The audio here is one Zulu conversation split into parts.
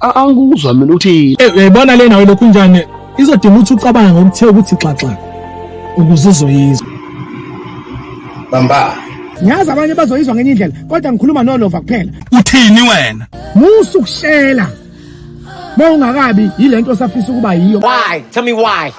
A- angikuzwa mina ukuthi Eh, uyayibona lena welokhu njani izodinga ukuthi ucabange ngokuthe ukuthi xaxa ukuze uzoyizwa bamba ngiyazi abanye bazoyizwa ngenye indlela kodwa ngikhuluma nolova kuphela uthini wena musa ukushela uma ungakabi yile nto osafisa ukuba yiyo Why? Tell me why.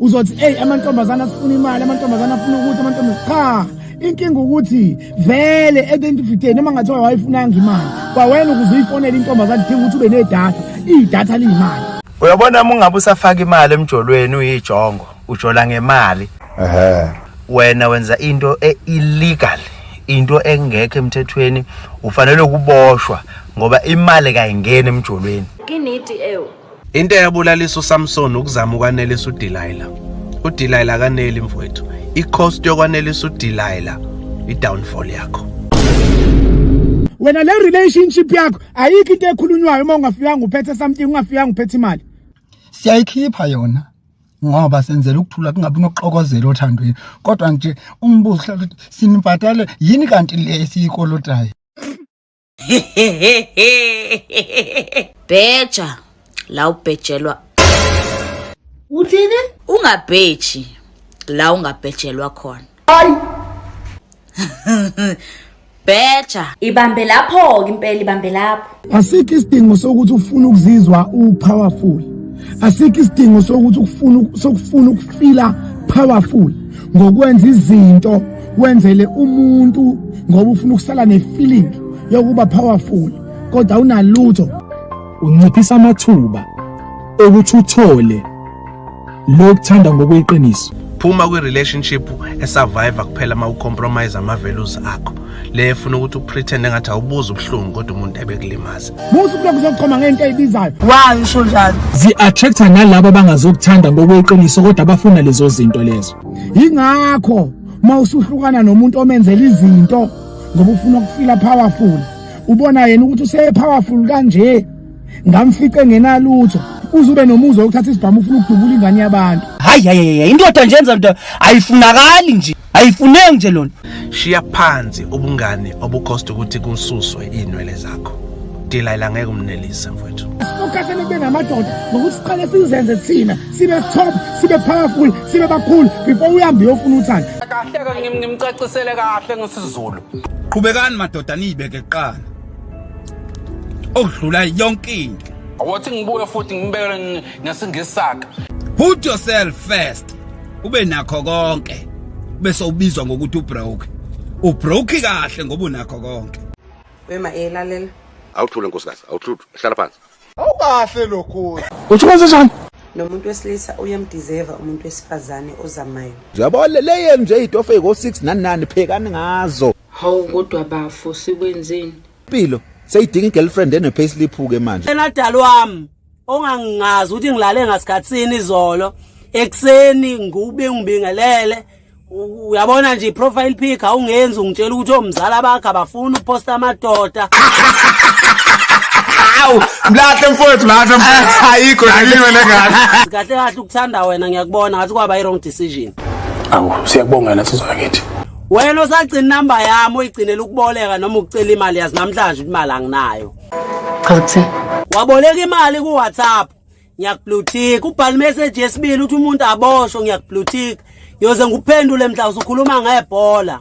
uzothi eyi amantombazane afuna imali amantombazane afuna ukuthi amantombazane cha inkinga ukuthi vele edentifitate noma ngathiwa wayifunanga imali kwawena ukuze uyifonele intombazane kudinga ukuthi ube nedatha idatha liyimali uyabona uma ungabe usafaka imali emjolweni uyijongo ujola ngemali ehe wena wenza into e-illegal into engekho emthethweni ufanele ukuboshwa ngoba imali kayingeni emjolweni kiniti ewu Into eyabulalisa uSamson ukuzama ukwanelisa uDelilah. UDelilah akaneli mfowethu. I-cost yokwanelisa uDelilah i-downfall yakho. Wena le relationship yakho ayikho into ekhulunywayo uma ungafikanga uphethe something ungafikanga uphethe imali. Siyayikhipha yona. ngoba senzela ukuthula kungabi nokuxokozela othandweni kodwa nje umbuzo uhlala ukuthi sinibhatale yini kanti le esiyikolotayo bheja la ubhejelwa uthini ungabheji la ungabhejelwa khona hayi bheja ibambe lapho ke impela ibambe lapho asikho isidingo sokuthi ufune ukuzizwa upowerful asikho isidingo sokuthi ukufuna sokufuna ukufila powerful ngokwenza izinto wenzele umuntu ngoba ufuna ukusala nefeeling yokuba powerful kodwa unalutho unciphisa amathuba okuthi uthole lokuthanda ngokweqiniso phuma kwi relationship esurvive kuphela uma ucompromise ama values akho le efuna ukuthi upretend engathi awubuza ubuhlungu kodwa umuntu ebekulimaza musa ukulokhu uzochoma ngento eyibizayo why usho njalo zi attractor nalabo abangazokuthanda ngokweqiniso kodwa abafuna lezo zinto lezo yingakho uma usuhlukana nomuntu omenzela izinto ngoba ufuna ukufila powerful ubona yena ukuthi useye powerful kanje ngamfice ngenalutho uzube nomuzi wokuthatha isibhamu ufuna ukudubula ingane yabantu hayi hayi indoda nje yenza into ayifunakali nje ayifuneki nje lona shiya phansi ubungane obukhosta ukuthi kususwe inwele zakho Delilah ngeke umnelise mfowethu. Ukhathele kube namadoda ngokuthi siqale sizenze thina sibe stop sibe powerful sibe bakhulu before uhambe uyofuna uthando kahle ke ngimcacisele kahle ngesizulu qhubekani madoda niyibeke kuqala okudlula yonke into awathi ngibuye futhi ngibekele ngesingesaka put yourself first ube nakho konke bese ubizwa ngokuthi ubroke ubroke kahle ngoba unakho konke wema elalela awuthule nkosikazi awuthule hlala phansi Awukahle lokho. Uthi kwenze njani? nomuntu wesilisa uyamdizeva umuntu wesifazane ozamayo yabo leyenu nje itofu eyiko-6 nani nani phekani ngazo hawu kodwa bafo sikwenzeni impilo seyidinga i-girlfriend ene-payslip-ke manje yena dali wami ongangingazi ukuthi ngilale ngasikhathini izolo ekuseni ngiwubingibingelele uyabona nje profile pic awungenzi ungitshela ukuthi omzala bakhe abafuni uposta amadoda awu mlahle mfowethu mlahle mfowethu ayikho yaliwe lengane kahle kahle ukuthanda wena ngiyakubona ngathi kwaba i-wrong decision awu siyakubonga yena sizwa kithi wena osagcina inamba yami uyigcinela ukuboleka noma ukucela imali yazi namhlanje imali anginayo chaza kuthini waboleka imali ku-whatsapp ngiyakublutika ubhala imeseji yesibili ukuthi umuntu aboshwe ngiyakublutika yoze ngikuphendule mhla usukhuluma ngebhola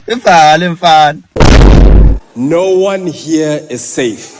ivale mfana no one here is safe